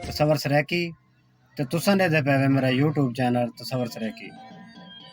تصور سرائیکی تے تساں ݙیندے پئے وے میرا یوٹیوب چینل تصور سرائیکی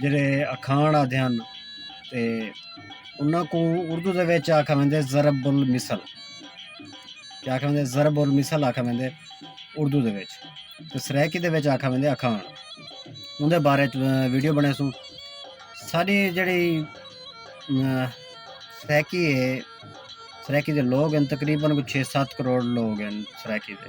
جیڑھے اکھاݨ آندے ہن تے انہاں کوں اردو دے وچ آکھا ویندے ضرب المثل کیا آکھا ویندے ضرب المثل آکھا ویندے اردو دے وچ تے سرائیکی دے وچ آکھا ویندے اکھاݨ اون دے بارے ویڈیو بݨیسوں ساݙی جیڑھی سرائیکی ہے سرائیکی دے لوگ ہن تقریبا کوئی چھ سات کروڑ لوگ ہن سرائیکی دے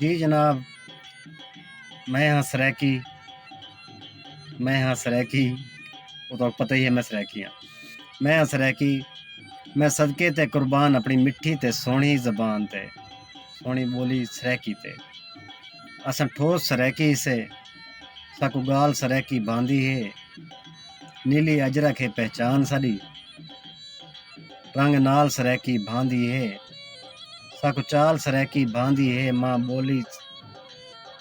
جی جناب میں ہاں سرائیکی میں ہاں سرائیکی وہ تو پتہ ہی ہے میں سرائیکی ہاں میں ہاں سرائیکی میں صدقے تے قربان اپنی مٹھی تے سونی زبان تے سونی بولی سرائیکی تے اساں ٹھوس سرائیکی سے ساکو گال سرائیکی باندھی ہے نیلی اجرک ہے پہچان ساری رنگ نال سرائیکی بھاندی ہے ساکوں چال سرائیکی بھاندی ہے ماں بولی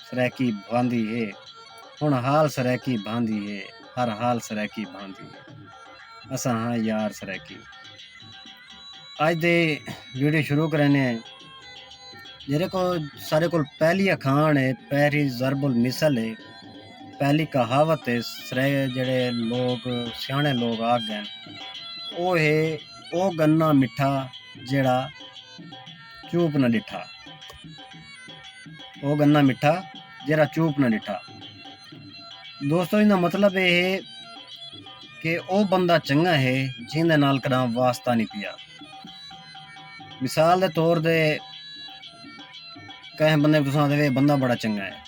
سرائیکی بھاندی ہے ہن حال سرائیکی بھاندی ہے ہر حال سرائیکی بھاندی ہے اساں ہاں یار سرائیکی اج دے ویڈیو شروع کرنے ہیں جیرے کو سارے کو پہلی اکھان ہے پہلی ضرب المثل ہے پہلی کہاوت ہے سرے جڑے لوگ سیانے لوگ آکھ گئے او ہے او گنا مٹھا جیڑا چوپ نہ ڈٹھا او گنا مٹھا جیڑا چوپ نہ ڈٹھا دوستو ان کا مطلب یہ ہے کہ او بندہ چنگا ہے جن دے نال کدام واسطہ نہیں پیا مثال دے طور دے کہیں بندے کو تساں آدھے بندہ بڑا چنگا ہے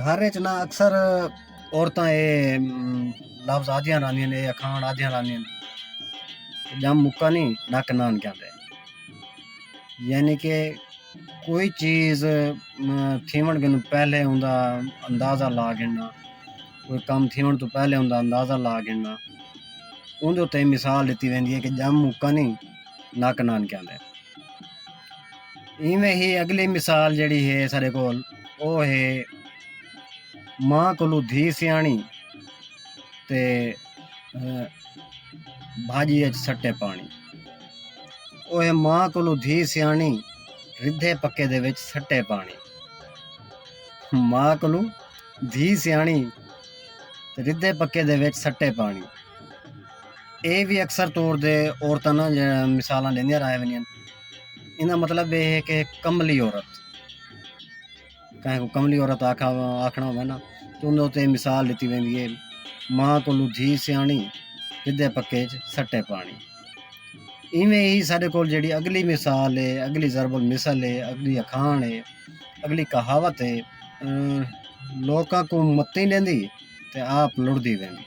گھر اچ نہ اکثر عورتاں اے لفظ آدھیاں رہندیاں اے اکھاݨ آدھیاں رہندیاں ڄم مکا نی نک نان کیاں تے یعنی کہ کوئی چیز تھیوݨ کنوں پہلے اوندا اندازہ لا گھننا کوئی کم تھیوݨ توں پہلے اوندا اندازہ لا گھننا اوندے اتے مثال ݙتی ویندی اے کہ ڄم مکا نی نک نان کیاں تے۔ ایویں ہی اگلی مثال جیڑی ہے سارے کول او ہے ماں کولو دھی سیاݨی تے بھاجی اچ سٹے پاݨی او ہے ماں کولو دھی سیاݨی ردھے پکے دے وچ سٹے پاݨی ماں کولو دھی سیاݨی ردھے پکے دے وچ سٹے پاݨی اے وی اکثر طور تے عورتاں نہ مثالاں ڈیندیاں رہ ونجن انہاں مطلب اے ہے کہ کملی عورت کہیں کو کملی عورت آکھا آکھنا ہوے نا تو انہاں تے مثال ڈتی ویندی ہے ماں کولو دھی سیاݨی ردھے پکے چ سٹے پاݨی ایویں ہی ساڈے کول جیڑی اگلی مثال ہے اگلی ضرب المثل ہے اگلی اکھاݨ ہے اگلی کہاوت ہے لوکاں کو متی ڈیندی تے آپ لڑدی ویندی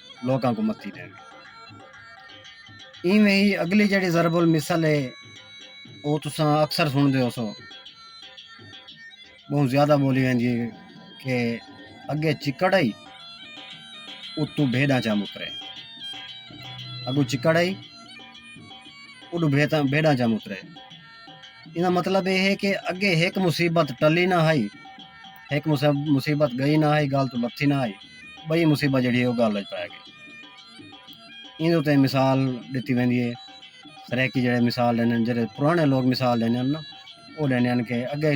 لوکاں کوں متی ݙیوے۔ ایویں ہی اڳلی جیڑھی ضرب المثل ہے او تساں اکثر سݨدے ہوسو ٻہوں زیادہ ٻولی ویندی ہے کہ اڳے چکڑ ہئی اتوں بھیݙاں چا مترے اڳوں چکڑ ہئی اݙوں بھیݙاں چا مترے ایندا مطلب ایہ ہے کہ اگے ہک مصیبت ٹلی نہ ہئی، ہک مصیبت ڳئی نہ ہئی، ڳالھ توں لتھی نہ ہئی، ٻئی مصیبت جیڑھی ہے او ڳالھ اچ پئے ڳئی۔ ایندے اتے مثال ݙتی ویندی ہے، سرائیکی جیڑھے مثال ݙیندے ہن جیڑھے پراݨے لوک مثال ݙیندے ہن نا او ݙیندے ہن کہ اگے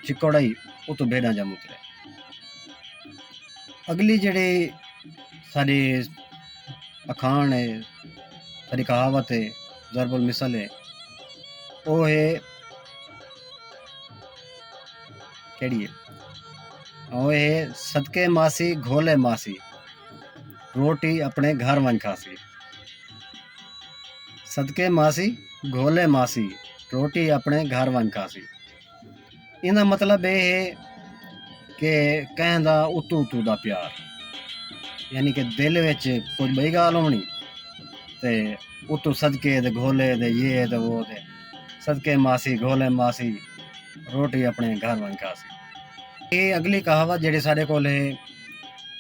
چکوڑ ہئی اتوں بھیݙاں ڄم اترے۔ اڳلی جیڑھی ساݙی اکھاݨ ہے، ساݙی کہاوت ہے۔ ضرب المثل ہے او ہے کیڑی ہے او ہے صدقے ماسی گھولے ماسی روٹی اپنے گھر ونج کھاسی صدقے ماسی گھولے ماسی روٹی اپنے گھر ونج کھاسی ایندا مطلب اے ہے کہ کہیں دا اتو اتو دا پیار یعنی کہ دل وچ کوئی ٻئی ڳالھ ہونڑی تے اتو صدقے دے گھولے دے یے دے وہ دے صدقے ماسی گھولے ماسی روٹی اپنے گھر ونڄ کھاسی اے اگلی کہاوت جیڑی ساڈے کول ہے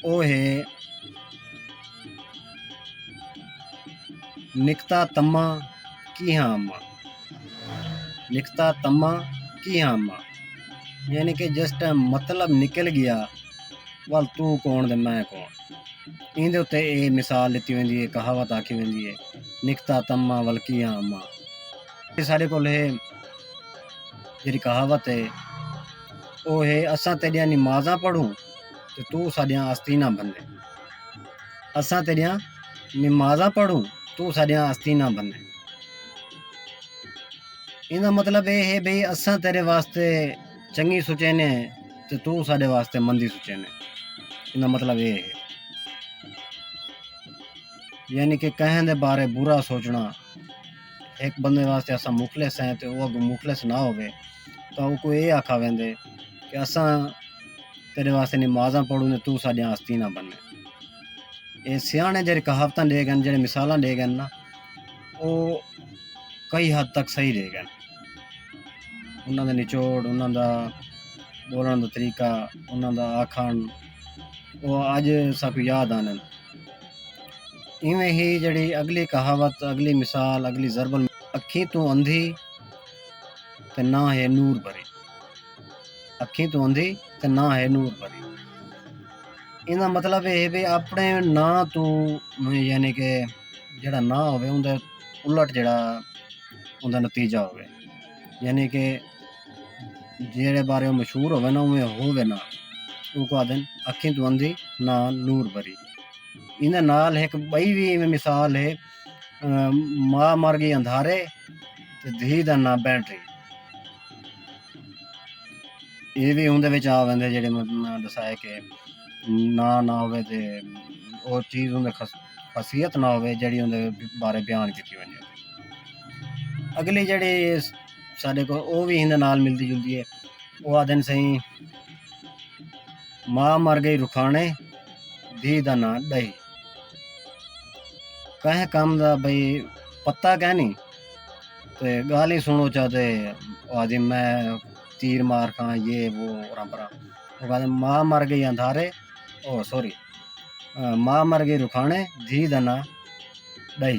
او ہے نکتا تما کیہاں اما لکھتا تما کی آما یعنی کہ جس ٹائم مطلب نکل گیا ول تو کون دے میں کون ایندے اتے اے مثال لیتی ویندی ہے کہاوت آکھی ویندی ہے نکتا تما ول کی آما یہ سارے کول ہے جی کہاوت ہے او ہے اساں تیڈیاں نمازاں پڑھوں تو تو ساڈیاں آستیناں بھنے اساں تیݙیاں نمازاں پڑھوں توں ساݙیاں آستیں نہ بھنیں۔ ایندا مطلب ایہ ہے بھئی اساں تیݙے واسطے چنڳی سوچیندے ہیں تے توں ساݙے واسطے مندی سوچیندے ہیں۔ ایندا مطلب ایہ ہے۔ یعنی کہ کہیں دے بارے برا سوچݨا ہک بندے واسطے اساں مخلص ہیں تے او اڳوں مخلص نہ ہووے۔ تاں اوکوں ایہ آکھا ویندے کہ اساں تیݙے واسطے نمازاں پڑھوں تاں توں ساݙیاں آستین نہ بݨیں۔ ایہ سیاݨے جیڑھے کہاوتاں ݙے ڳن جیڑھے مثالاں ݙے ڳن نا او کئی حد تک صحیح ݙے ڳن۔ انہاں دا نچوڑ انہاں دا ٻولݨ دا طریقہ انہاں دا آکھݨ او اڄ ساکوں یاد آندن۔ ایویں ہی جیڑھی اڳلی کہاوت اڳلی مثال اڳلی ضرب المثل اکھیں توں اندھی تے نہ ہے نور بھرے اکھیں تو اندھی تے نہ ہے نور بھرے ایندا مطلب اے ہے کہ اپنے نا تو یعنی کہ جڑا نا ہوے اوندا الٹ جڑا اوندا نتیجہ ہوے یعنی کہ جیڑے بارے او مشہور ہوے نا اوویں ہوے نا اوکوں آکھدن اکھیں تو اندھی نا نور بھری ایندا نال ہک ٻئی وی ایویں مثال ہے ماء مر گئی اندھارے تے دھی دا ناں بینٹری یہ بھی اندر آ ویندے جڑے میں دسائے کہ نا نہ ہوئے تے اور چیز اندر خاصیت نہ ہوئے جڑی اندر بارے بیان کی ونجے اگلی جڑی سارے کو وہ بھی اندر نال ملتی جلتی ہے وہ آ دن سہی ماں مر گئی رکھانے دھی دا نا دہی کہیں کم دا بھئی پتہ کینی تے گالھ ہی سنڑو چا تے او آکھدی میں تیر مار کھاں یہ وہ اورا پورا او آکھدے ماں مر گئی اندھارے او سوری ماں مر گئی رکھانے دھی دا ناں ڈئی